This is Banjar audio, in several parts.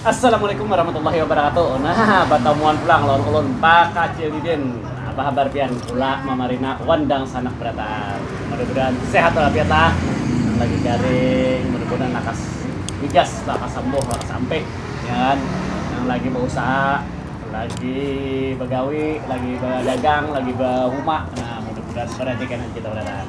Assalamualaikum warahmatullahi wabarakatuh nah batamuan pulang lawan ulun pak kacil didin apa habar pian kula mama rina wan dangsanak barataan mudah mudahan sehat walafiat lah nang lagi garing mudah mudahan lakas wigas lakas sambuh lakas ampi ya kan nang lagi bausaha lagi bagawi lagi badagang lagi bahuma nah mudah mudahan barajaki nang kita barataan.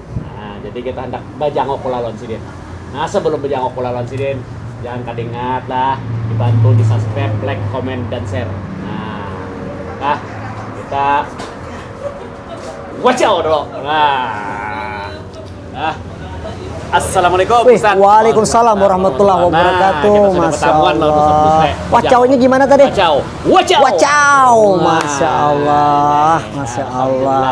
Nah, jadi kita hendak bajangok pula lawan sidin. Nah, sebelum bajangok pula lawan sidin, jangan kada ingat lah dibantu di subscribe, like, comment, dan share. Nah, nah kita wacau dulu. Nah, nah. Assalamualaikum Wih, Ustaz. Waalaikumsalam warahmatullahi nah, wabarakatuh. Nah, Masya Allah. Wacaunya gimana tadi? Wacau. Wacau. Wacau. Masya Allah. Masya Allah.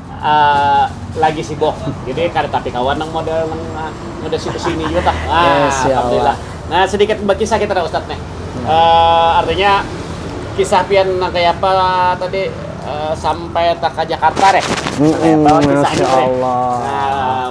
lagi sibuk jadi kada tapi kawan nang model nang model situ sini juga tah ah, yes, ya alhamdulillah nah sedikit berkisah kita dah ustadz nih hmm. uh, artinya kisah pian nang kayak apa tadi uh, sampai tak ke Jakarta deh hmm, sampai apa kisah ini Allah. Nah,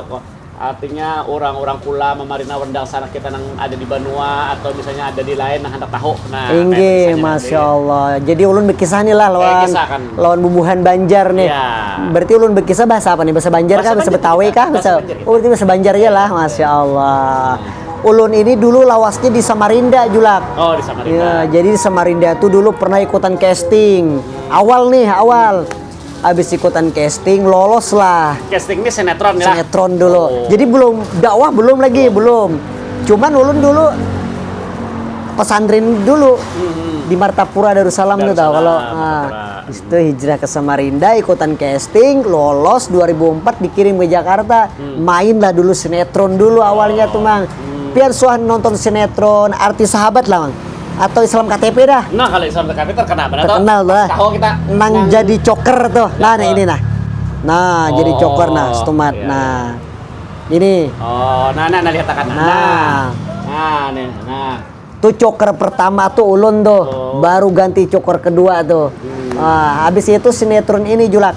Artinya urang-urang kula mamarina wendang sanak kita nang ada di banua atau misalnya ada di lain nang handak tahu. Nah, kaya Inggih, kisahnya nang masya tadi. Allah. Jadi ulun bekisah ni lah lawan kisah kan. lawan bubuhan Banjar nih. Iya. Berarti ulun bekisah bahasa apa nih? Bahasa Banjar kah? Bahasa Bahasa Banjar Betawi kita. kah? Bahasa Bahasa- Banjar kita. Oh, berarti bahasa Banjar ja lah. Masya Allah. Ulun ini dulu lawasnya di Samarinda, Julak. Oh, di Samarinda. Ya, jadi di Samarinda tuh dulu pernah ikutan casting. Awal nih, awal. habis ikutan casting lolos lah casting ini sinetron ya sinetron dulu oh. jadi belum dakwah belum lagi oh. belum cuman ulun dulu pesantren dulu hmm. di Martapura Darussalam, Darussalam tuh tau kalau nah, itu hijrah ke Samarinda ikutan casting lolos 2004 dikirim ke Jakarta hmm. main lah dulu sinetron dulu awalnya tuh mang hmm. pian suah nonton sinetron artis sahabat lah mang atau Islam KTP dah. Nah, kalau Islam KTP terkenal benar Terkenal dah. Tahu kita nang, nang jadi coker tuh. Nah, nah ini nah. Nah, oh, jadi coker nah, oh, stumat. Iya, nah. Iya. Ini. Oh, nah nah nah lihat akan. Nah. Nah, nah nih. Nah. Tuh coker pertama tuh ulun tuh. Oh. Baru ganti coker kedua tuh. Hmm. Nah, habis itu sinetron ini Julak.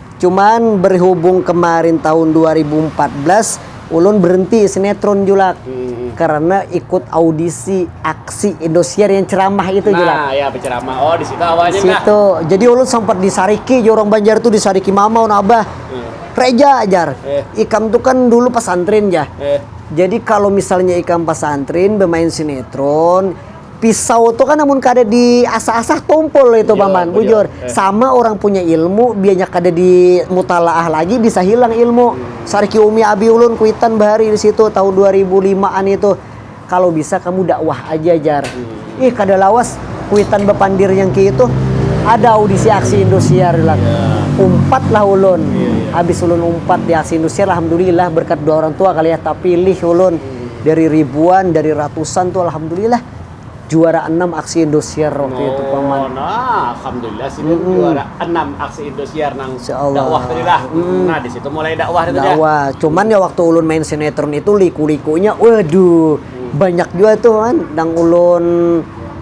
Cuman berhubung kemarin tahun dua ribu empat belas ulun berhenti sinetron Julak hmm. karena ikut audisi aksi Indosiar yang ceramah itu nah, Julak. Nah, ya penceramah. Oh, di situ awalnya. Di situ. Nah. Jadi ulun sempat disariki orang Banjar tuh disariki mama un abah. Hmm. Reja ajar. Eh. Ikam tuh kan dulu pesantren ya. Eh. Jadi kalau misalnya ikam pesantren bermain sinetron, pisau tuh kan namun kada di asah-asah tumpul itu iya, paman bujur eh. sama orang punya ilmu bianya kada di mutalaah lagi bisa hilang ilmu sarki umi abi ulun kuitan bahari di situ tahun 2005an itu kalau bisa kamu dakwah aja jar hmm. ih kada lawas kuitan bepandir yang ki itu ada audisi aksi Indosiar lah. Yeah. Umpat lah ulun. Yeah, yeah. Habis ulun umpat di aksi Indosiar alhamdulillah berkat dua orang tua kali ya tapi pilih ulun. hmm. dari ribuan dari ratusan tuh alhamdulillah juara enam aksi Indosiar waktu oh, itu paman. Oh, nah, alhamdulillah sih mm. juara enam aksi Indosiar nang dakwah tadi lah. Mm. Nah, di situ mulai dakwah itu Dakwah. Ya. Cuman ya waktu ulun main sinetron itu liku-likunya waduh, mm. banyak juga tuh kan nang ulun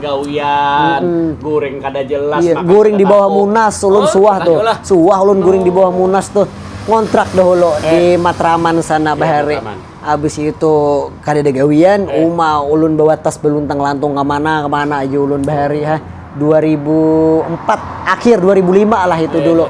gawian guring kada jelas iya, guring di bawah munas ulun oh, suah tuh lah. suah ulun guring di bawah munas tuh ngontrak dahulu eh. di Matraman sana iya, bahari abis itu kada ada gawian eh. uma ulun bawa tas beluntang lantung kemana kemana aja ulun bahari ha 2004 akhir 2005 lah itu eh. dulu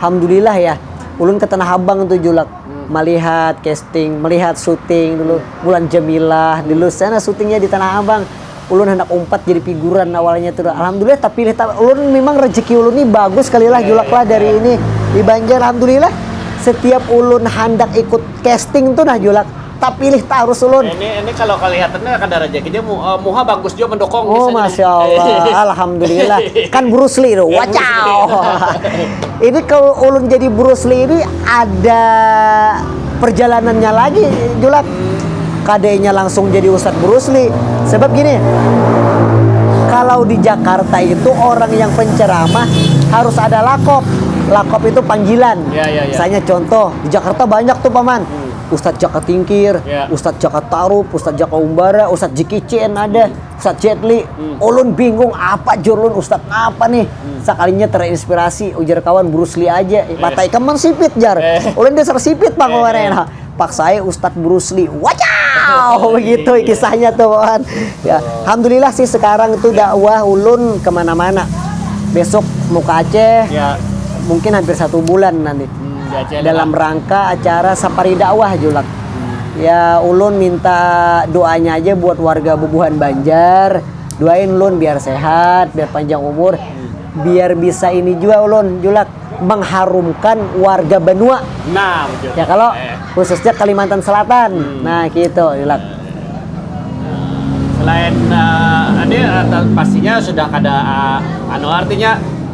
alhamdulillah ya ulun ke Tanah Abang tuh julak hmm. melihat casting melihat syuting dulu hmm. bulan Jemilah dulu sana syutingnya di Tanah Abang ulun handak umpat jadi piguran awalnya tu alhamdulillah tapilih ta ulun memang rezeki ulun ni bagus kali lah julak lah dari ini di banjar alhamdulillah setiap ulun handak ikut casting tu nah julak tapilih tarus ulun. Ini ini kalau kelihatan nya kada rejeki dia mu, uh, muha bagus jua mendokong Oh masya Allah, alhamdulillah kan Bruce Lee tu, wacaw. ini kalau ulun jadi Bruce Lee ini ada perjalanannya lagi Julak kada inya langsung jadi Ustaz Brusli sebab gini kalau di Jakarta itu orang yang penceramah harus ada lakop lakop itu panggilan ya, ya, ya. misalnya contoh di Jakarta banyak tuh paman hmm. Ustadz Jaka Tingkir, ya. Ustadz Jaka Tarup, Ustadz Jaka Umbara, Ustadz Jikicin ada. Hmm. Sacedly, ulun bingung apa jur ulun ustad napa nih, sakalinya terinspirasi ujar kawan Bruce Lee aja, mata ikam mansipit jar, ulun dasar sipit pang kemarin nah, paksa ai ustad Bruce Lee, wacaau begitu kisahnya tuh kawan, alhamdulillah sih sekarang tuh dakwah ulun kemana-mana, besok mau ke Aceh mungkin hampir satu bulan nanti dalam rangka acara safari dakwah julak. ya ulun minta doanya aja buat warga bubuhan Banjar doain ulun biar sehat biar panjang umur biar bisa ini juga ulun julak mengharumkan warga benua nah ya kalau khususnya Kalimantan Selatan hmm. nah gitu julak selain uh, ini eh, pastinya sudah ada uh, anu artinya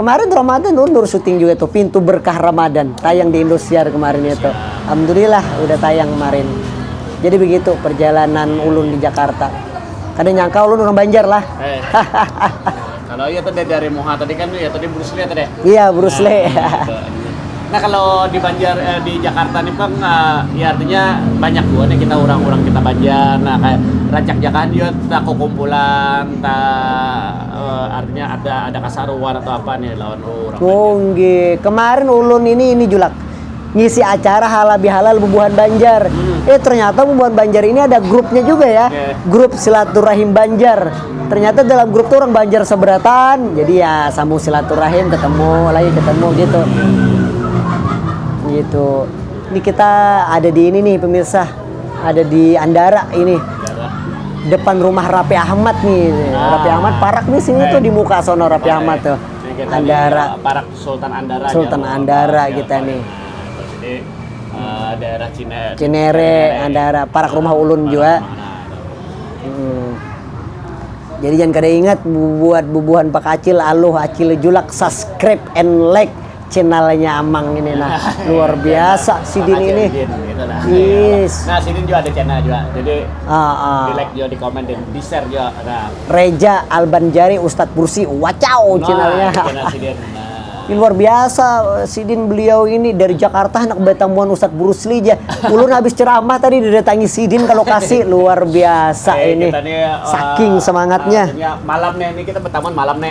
Kemarin Ramadan undur syuting juga tuh Pintu Berkah Ramadan tayang di Indosiar kemarin itu. Alhamdulillah udah tayang kemarin. Jadi begitu perjalanan ulun di Jakarta. Kada nyangka ulun urang Banjar lah. Eh. kalau iya tadi dari Moha tadi kan ya tadi Bruce Lee tadi. Iya Bruce nah, Lee. Nah, gitu. nah kalau di Banjar eh, di Jakarta nih bang, eh, ya artinya banyak juga nih kita orang-orang kita Banjar. Nah kayak rancak jakahan juga tak kumpulan, tak Uh, artinya ada ada kasaruan atau apa nih lawan orang. Kunggi. Kemarin ulun ini ini julak ngisi acara halal bihalal bubuhan Banjar. Hmm. Eh ternyata bubuhan Banjar ini ada grupnya juga ya. Yeah. Grup silaturahim Banjar. Ternyata dalam grup tuh orang Banjar seberatan. Jadi ya sambung silaturahim ketemu lagi ketemu gitu. Gitu. Ini kita ada di ini nih pemirsa. ada di Andara ini depan rumah Rapi Ahmad nih ah. Rapi Ahmad parak nih sini tuh di muka sono Rapi Parak. Ahmad tuh Jadi Andara di, eh, parak Sultan Andara Sultan ya, Andara ya, kita nih jadi uh, daerah Cine, Cinere, Cinere Andara parak rumah ulun parak juga hmm. jadi jangan kada ingat buat bubuhan pak acil aluh acil julak subscribe and like channelnya amang ini nah luar biasa sidin ini gitu nah yes. nah sidin juga ada channel juga jadi uh, uh. di like juga di komen dan di share juga nah. Reja Albanjari Ustadz Bursi wacau nah, channelnya channel sidin nah. Ini luar biasa sidin beliau ini dari Jakarta anak betamuan Ustadz Burusli aja. Ulun habis ceramah tadi didatangi sidin kalau kasih luar biasa eh, ini. Nih, uh, Saking semangatnya. Uh, malamnya ini kita bertamuan malam nih.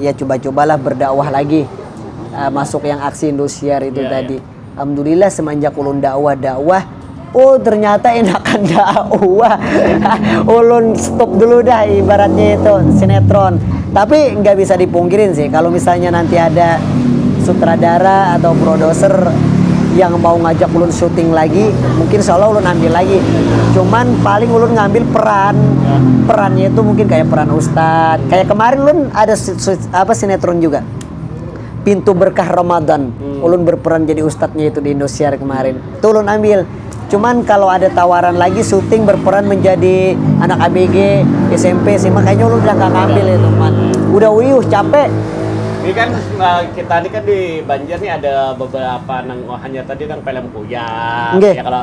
ya cuba-cubalah berdakwah lagi uh, masuk yang aksi Indosiar itu yeah, tadi. Yeah. Alhamdulillah semenjak ulun dakwah dakwah Oh ternyata enakan dakwah Ulun stop dulu dah ibaratnya itu sinetron Tapi nggak bisa dipungkirin sih Kalau misalnya nanti ada sutradara atau produser yang mau ngajak ulun syuting lagi mungkin insya Allah ulun ambil lagi cuman paling ulun ngambil peran perannya itu mungkin kayak peran Ustaz, kayak kemarin lun ada apa sinetron juga. Pintu berkah Ramadan. Hmm. Ulun berperan jadi ustadznya itu di Indosiar kemarin. Hmm. Tuh ulun ambil. Cuman kalau ada tawaran lagi syuting berperan menjadi anak ABG, SMP, sih makanya lu udah gak ngambil ya teman. Udah uyuh capek. Ini kan eh, kita ini kan di Banjar nih ada beberapa nang oh, hanya tadi nang film kuyang. Okay. Ya kalau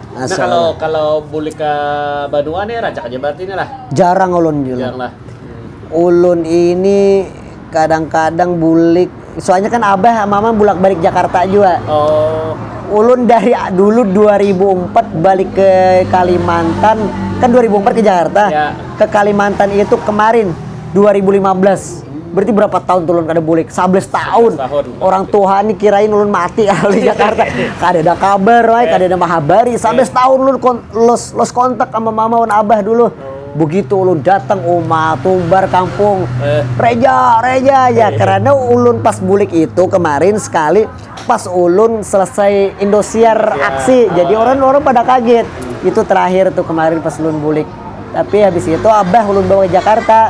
Nah, Asal. kalau kalau bulik ke Banua nih rancak aja berarti nih lah. Jarang ulun Jul. Jarang lah. Ulun ini kadang-kadang bulik. Soalnya kan abah mama bulak-balik Jakarta juga. Oh, Ulun dari a- dulu 2004 balik ke Kalimantan. Kan 2004 ke Jakarta. Ya. Ke Kalimantan itu kemarin 2015. Berarti berapa tahun tuh ulun kada bulik? 11 tahun. Orang tuha ni kirain ulun mati kalau di Jakarta. kada ada kabar, ay, kada ada mahabari. 11 tahun ulun kon los los kontak sama mama wan abah dulu. Begitu ulun datang uma tumbar kampung, reja, reja ya. Karena ulun pas bulik itu kemarin sekali pas ulun selesai Indosiar aksi. Jadi orang orang pada kaget. Itu terakhir tuh kemarin pas ulun bulik. Tapi habis itu abah ulun bawa ke Jakarta.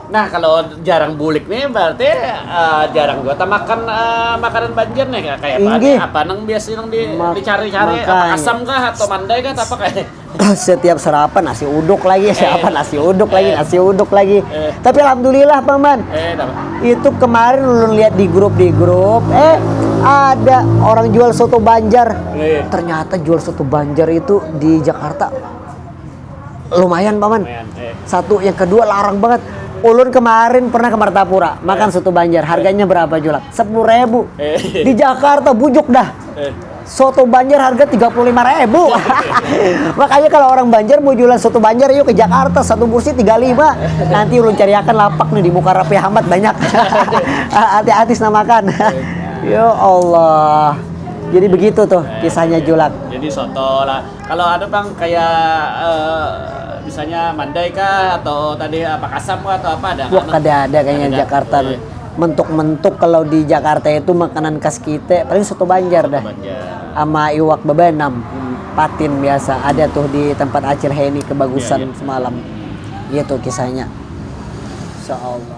Nah, kalau jarang bulik nih berarti uh, jarang juga makan uh, makanan banjir nih kayak apa nih? Apa nang biasa nang di, Mak dicari-cari? Apa asam kah atau mandai kah? Apa kayak? Setiap sarapan nasi uduk lagi, eh. siapa nasi uduk eh. lagi, nasi uduk lagi. Eh. Tapi alhamdulillah paman. Eh, itu kemarin lu lihat di grup di grup, eh ada orang jual soto Banjar. Eh. Ternyata jual soto Banjar itu di Jakarta lumayan paman lumayan, eh. satu yang kedua larang banget ulun kemarin pernah ke Martapura makan eh. soto Banjar harganya eh. berapa julak sepuluh ribu eh. di Jakarta bujuk dah eh. soto Banjar harga tiga puluh lima ribu makanya kalau orang Banjar mau jualan soto Banjar yuk ke Jakarta satu kursi tiga lima nanti ulun cariakan lapak nih di muka Rapi Ahmad banyak hati-hati namakan eh. ya Allah jadi begitu tuh kisahnya julak jadi soto lah Kalau ada bang kayak uh, misalnya Mandai kah atau tadi apa Kasam kah atau apa ada? Wah kada ada kayaknya ada, Jakarta. Ada. Iya. Mentuk-mentuk kalau di Jakarta itu makanan khas kita paling soto Banjar soto dah. Banjar. Sama iwak bebanam. Hmm. Patin biasa ada tuh di tempat Acil Heni kebagusan iya, iya. semalam. Iya tuh kisahnya. Insyaallah.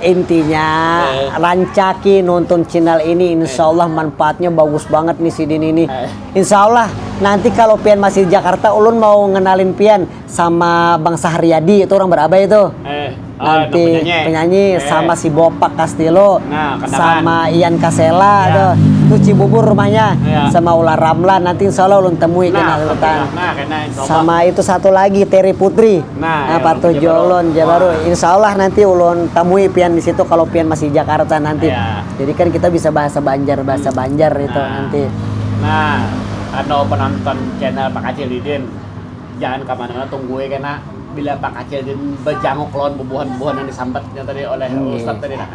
Intinya rancaki nonton channel ini insya Allah manfaatnya bagus banget nih sidin ini. Insya Allah nanti kalau pian masih di Jakarta ulun mau ngenalin pian sama Bang Saharyadi itu orang Barabai itu. Eh, ah, nanti penyanyi, penyanyi eh. sama si Bopak Castillo nah, sama Ian Kasela ya. tuh. Itu Cibubur rumahnya ya. sama Ular Ramlan nanti insya Allah ulun temui nah, kenal nah, nah, sama itu satu lagi Terry Putri. Nah, apa tuh Jolon ja baru. Insya Allah nanti ulun tamui pian di situ kalau pian masih Jakarta nanti. Ya. Jadi kan kita bisa bahasa Banjar bahasa hmm. Banjar itu nah. nanti. Nah, anu penonton channel Pak Acil Didin, jangan kemana-mana tungguin kena bila Pak Acil Didin berjanguk lawan bubuhan-bubuhan yang disambatnya tadi oleh hmm. Ustadz tadi. Nah.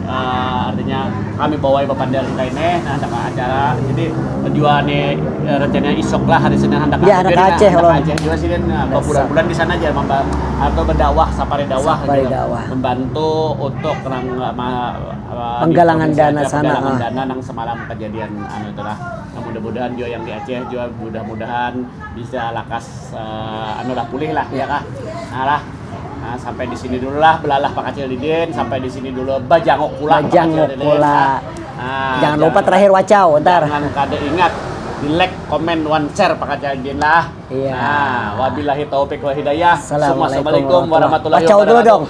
Uh, artinya kami bawai bapander kita ini nah handak acara jadi jua nih eh, rencananya isok lah hari Senin handak Ya, handak Aceh, handak Lon. Aceh juga sih kan nah, Dasar. berbulan-bulan di sana aja memba- atau berdakwah sapari dakwah Sapari gitu. dakwah. membantu untuk nang eh, ma- eh, di Penggalangan provinsi dana Aceh, sana, penggalangan ah. dana nang semalam kejadian anu itulah Nah, mudah-mudahan juga yang di Aceh juga mudah-mudahan bisa lakas uh, anu lah pulih lah ya kah nah lah nah, sampai di sini dulu lah belalah pak kecil didin sampai di sini dulu bajanguk pula bajanguk pula nah, jangan lupa terakhir wacau ntar jangan kada ingat di like, komen, one share Pak Jaldin lah. Iya. Nah, wabillahi taufik wal hidayah. Assalamualaikum warahmatullahi wabarakatuh. Wacau dulu dong.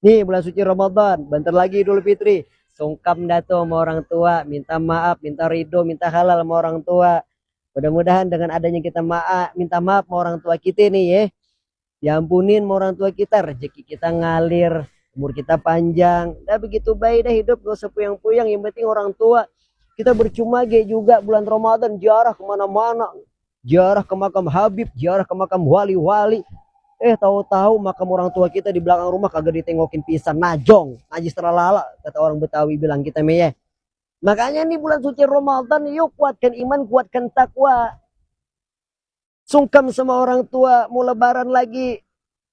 Nih bulan suci Ramadan, bentar lagi Idul Fitri. Sungkam dah tuh sama orang tua, minta maaf, minta ridho, minta halal sama orang tua. Mudah-mudahan dengan adanya kita maaf, minta maaf sama orang tua kita nih ya. Diampunin sama orang tua kita, rezeki kita ngalir, umur kita panjang. Dah begitu baik dah hidup, gak usah puyang-puyang, yang penting orang tua. Kita bercuma ge juga bulan Ramadan, jarah kemana-mana. ziarah ke makam Habib, ziarah ke makam wali-wali. Eh tahu-tahu makam orang tua kita di belakang rumah kagak ditengokin pisan, najong, najis terlala kata orang Betawi bilang kita meyeh. Makanya nih bulan suci Ramadan yuk kuatkan iman, kuatkan takwa. Sungkam sama orang tua, mau lebaran lagi.